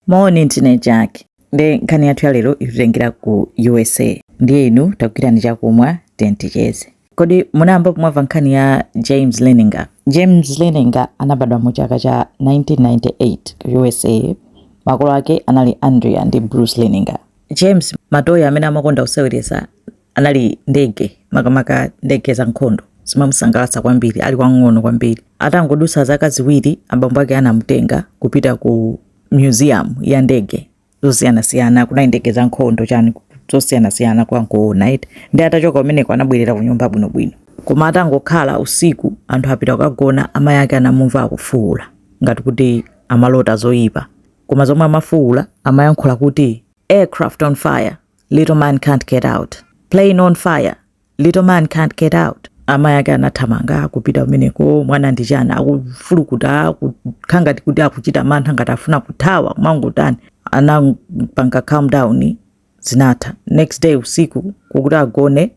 moni ndine jack ndi nkhani yathu ya lero ikutengera ku usa ndiye inu tagwirani chakumwa ticheze kodi munayamba mwamva nkhani ya james leninger james leninger anabadwa mu chaka cha 1998 ku usa makolo ake anali andrea ndi bruce leninger james matoyi amene amakonda kuseweretsa anali ndege makamaka ndege za nkhondo zimamusangalatsa kwambiri ali wang'ono kwambiri atangodusa zaka ziwiri abambo ake anamutenga kupita ku museum ya ndege zosiyanasiyana kunali ndege za nkhondo chani zosiyanasiyana kwangoona ndiye atachoka kumeneko anabwerera ku nyumba bwinobwino koma atangokhala usiku anthu apita kukagona amayi ake anamumva akufuwula ngati kuti amalota zoyipa koma zomwe amafuwula amayankhula kuti aircraft on fire little man can't get out plane on fire little man can't get out amayi ake anathamanga kupita kumeneko mwana ndi chani akufulukuta kukhala ngati kuti akuchita mantha ngati akufuna kuthawa kumangotani anapanga calm down zinatha next day usiku kuti agone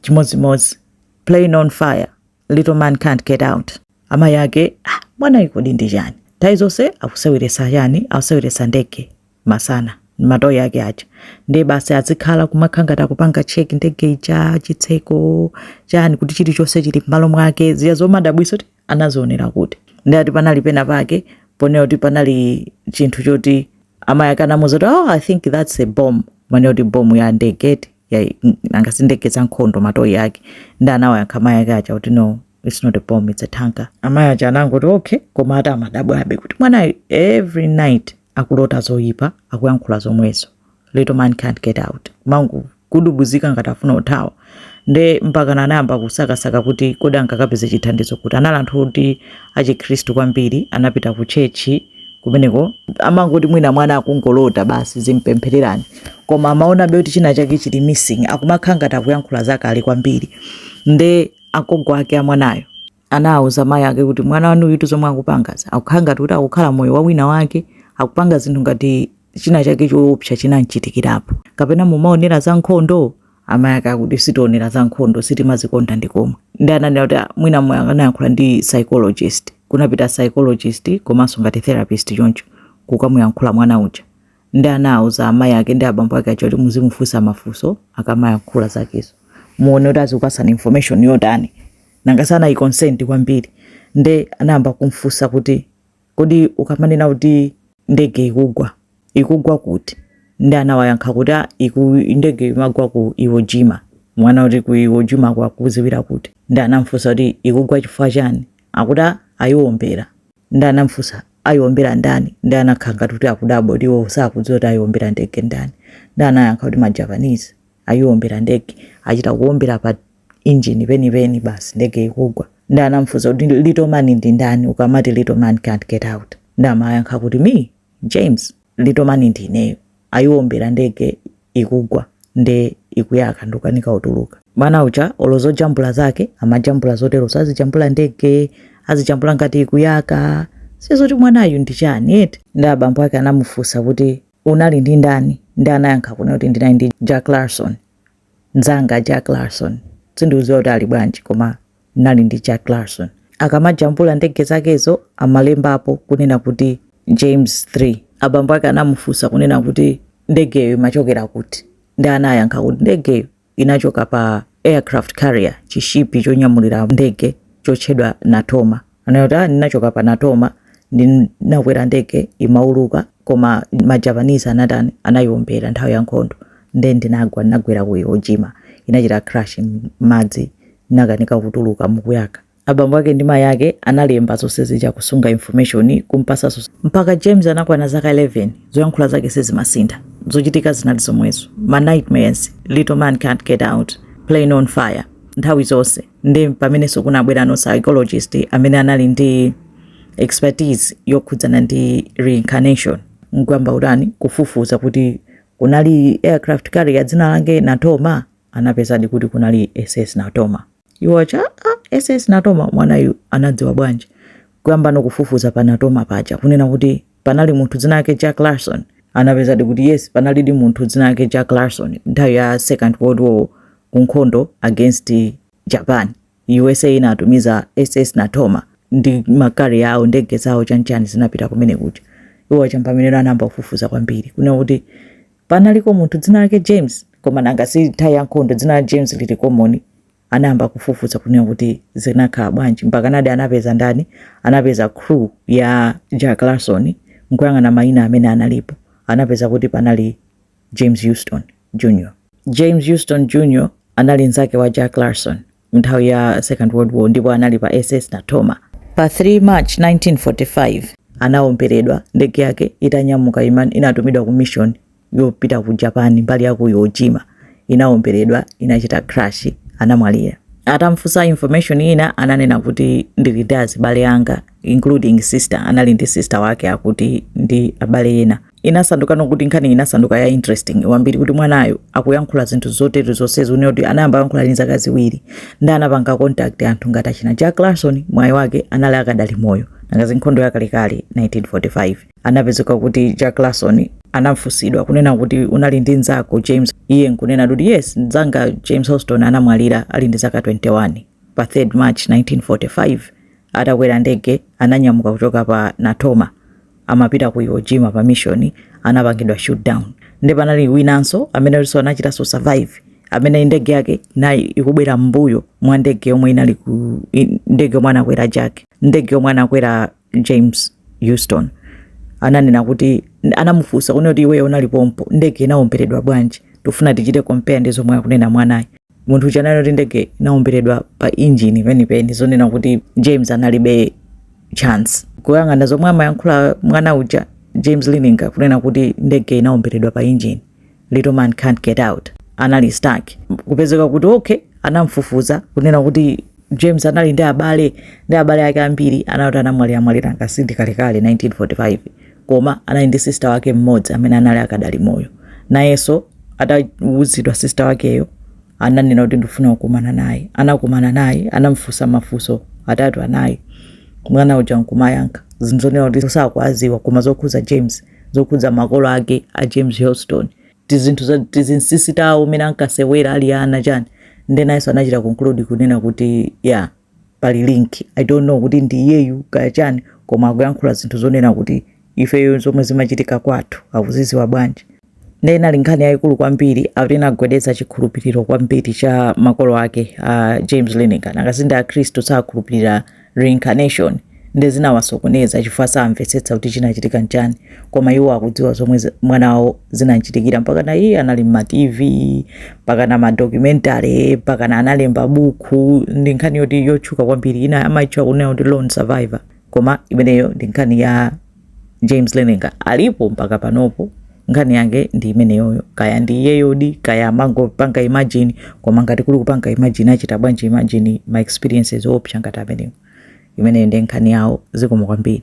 chimodzimodzi plane on fire little man can't get out amayi ake ah, mwanayu kodi ndi chani nthawi zonse akuseweresa chani akuseweresa ndege masana matoyi ake aja ndiye basi azikhala kumakhala ngati akupanga cheki ndege ija chitseko chani kuti chilichonse chili m'malo mwake zija zomadabwisa kuti anazionera kuti nde ati panali pena pake ponera kuti panali chinthu choti amayi ake anamuza kuti oh, i think that's a bomb poonera kuti bomb ya ndege eti mm, nanga sindege za nkhondo matoyi ake nde anawayankha mayi ake aja kuti no it's not a bomb it's a tanker amayi aja anangoti okay koma ati amadabwabe kuti mwanayo every night akulota zoyipa akuyankhula zomwezo little man can't get out kumangodubuzika ngati afuna kuthawa nde mpaka anayamba kusakasaka kuti kodi angakapeze chithandizo kuti anali anthu oti achikhristu kwambiri anapita ku chechi kumeneko amangoti mwina mwana akungolota basi muzimpempherera koma amaonabe kuti china chake chili missing akumakhala ngati akuyankhula zakale kwambiri nde agogo ake amwanayo anawuza mayi ake kuti mwana wanu uyu zomwe akupangazi akukhala ngati kuti akukhala moyo wa wina wake akupanga zinthu ngati china chake choopsa chinamchitikirapo kapena mumaonera za nkhondo amayi ake akuti sitionera za nkhondo sitimazikonda ndikomwe nde ananena kuti "Ah, mwina mwe- anayankhula ndi psychologist kunapita psychologist komanso ngati therapist choncho kukamuyankhula mwana uja nde anauza amayi ake ndi abambo ake aja kuti muzimufunsa mafunso akamayankhula zakezo muone kuti azikupasani information yotani nanga sanayikonsenti kwambiri nde anayamba kumfunsa kuti Kodi ukamanena kuti ndege ikugwa, ikugwa kuti? Nde anawayankha kuti ah iku, ndege imagwa ku Iwo Jima. Mwana kuti ku Iwo Jima ko akukudziwira kuti? Nde anamfunsa kuti ikugwa chifukwa chani? Akuti ah ayiombera. Nde anamfunsa ayiombera ndani? Nde anakhala ngati kuti akudabwa kuti iwowo sakudziwa kuti ayiombera ndege ndani. Nde anayankha kuti ma Japanese ayiombera ndege, achita kuombera pa engine penipeni basi ndege ikugwa ndi anamfunsa kuti little man ndi ndani ukamati little man can't get out ndi amayankha kuti me james little man ndi ineyo ayiwombera ndege ikugwa nde ikuyaka ndukanika kutuluka mwana uja olo zojambula zake amajambula zotero azijambula ndege azijambula ngati ikuyaka si zoti mwanayu ndi chani eti ndi abambo ake anamufunsa kuti unali ndi ndani ndi anayankha kuna kuti ndinali ndi jack larson nzanga Jack Larson sindikudziwa kuti ali bwanji koma ndinali ndi Jack Larson akamajambula ndege zakezo amalembapo kunena kuti James 3 abambo ake anamufunsa kunena kuti ndegeyo imachokera kuti ndi anayankha kuti ndegeyo inachoka pa aircraft carrier chishipi chonyamulira ndege chotchedwa Natoma anena kuti ah, ndinachoka pa natoma ndinakwera ndege imauluka koma majapanese anatani anayiombera nthawi ya nkhondo nde ndinagwa ndinagwera ku Iwo Jima inachita crash m'madzi ndinakanika kutuluka ikuyaka abambo ake ndi mayi ake analemba zonse zija kusunga information kumpasa zonse mpaka james anakwana zaka 11 zoyankhula zake sizimasintha zochitika zinali zomwezo ma nightmares little man can't get out plane on fire nthawi zonse ndi pamenenso kunabwera no psychologist amene anali ndi expertise yokhudzana ndi reincarnation nkuyamba kutani kufufuza kuti kunali aircraft carrier dzina lake natoma anapezadi kuti kunali ss natoma iwo acha ah, ss natoma mwanayu anadziwa bwanji kuyamba no kufufuza pa natoma paja kunena kuti panali munthu dzina lake jack larson anapezadi kuti yes panalidi munthu dzina lake jack larson nthawi ya second world war ku nkhondo against japan usa inatumiza ss natoma ndi ma carrier awo ndege zawo chanchani zinapita kumene kuja iwo atamva zimenezo anayamba kufufuza kwambiri kuna kuti panaliko munthu dzina lake james koma nanga si nthawi ya nkhondo dzina la james lili common anayamba kufufuza kunena kuti zinakhala bwanji mpakana di anapeza ndani anapeza crew ya jack larson nkuyang'ana mayina amene analipo anapeza kuti panali james houston jr james houston jr anali nzake wa jack larson mnthawi ya second world war ndipo anali pa ss natoma pa 3 march 1945 anaomberedwa ndege yake itanyamuka iman- inatumidwa ku mission yopita ku Japan mbali ya ku Iwo Jima inawomberedwa, inachita crash, anamwalira. Atamfunsa information ina ananena kuti ndili ndi azibale anga including sister, anali ndi sister wake akuti ndi abale ena. Inasandukano kuti nkhani inasanduka ya interesting wambiri kuti mwanayo akuyankhula zinthu zotere zonsezi kunena kuti anayamba kuyankhula ndi zaka ziwiri nde anapanga contact anthu ngati achina Jack Larson mwayi wake anali akadali moyo nanga si nkhondo yakalekale 1945 anapezeka kuti jack larson anafunsidwa kunena kuti unali ndi mnzako james iye nkunena kuti yes mnzanga james houston anamwalira ali ndi zaka 21 pa 3 march 1945 atakwera ndege ananyamuka kuchoka pa natoma amapita ku iwo jima pa mission anapangidwa shoot down nde panali winanso amene alinso anachitanso survive amene ndege yake inali ikubwera mbuyo mwa ndege yomwe inali ku i- ndege yomwe anakwera jack ndege yomwe anakwera James Houston ananena kuti anamufunsa kunena kuti iweyo unali pompo ndege inaomberedwa bwanji tufuna tichite compare ndi zomwe akunena mwanayu munthu uja ananena kuti ndege inaomberedwa pa injini penipeni zonena kuti James analibe chance kuyang'ana zomwe amayankhula mwana uja James Leininger kunena kuti ndege inaomberedwa pa injini little man can't get out anali stuck kupezeka kuti okay anamfufuza kunena kuti james anali ndi abale ndi abale ake ambiri anati anamwalira mwalira nanga si ndi kalekale 1945 koma anali ndi sister wake mmodzi amene anali akadali moyo nayenso atawuzidwa sister wakeyo ananena kuti ndifuna kukumana naye anakumana naye anamfunsa mafunso atatu anayi mwana uja nkumayankha zinthu zonena kuti sakwaziwa koma zokhuza james zokhudza makolo ake a James Houston tizinthu za tizinsisi tawo umene ankasewera ali ana chani nde nayenso anachita conclude kunena kuti ya pali link i don't know kuti ndi iyeyu kaya chani koma akuyankhula zinthu zonena kuti ifeyo zomwe zimachitika kwathu akuziziwa bwanji nde inali nkhani yayikulu kwambiri akuti inagwedeza chikhulupiriro kwambiri cha makolo ake a James Leininger nanga si ndi akhristu sakhulupirira reincarnation, nde zinawasokoneza chifukwa samvetsetsa kuti chinachitika nchani koma iwo akudziwa zomwe mwana wawo zinamchitikira mpakana iye anali mma tv mpakana madocumentary mpakana analemba bukhu ndi nkhani yoti yotchuka kwambiri ina amaitcha kunena kuti lone survivor koma imeneyo ndi nkhani ya james Leininger alipo mpaka panopo nkhani yake ndi imeneyoyo kaya ndi iyeyodi kaya amangopanga imagine koma ngati kuli kupanga imagine achita bwanji imagine ma experiences oopsa ngati amenewo imeneyo ndi nkhani yawo zikomo kwambiri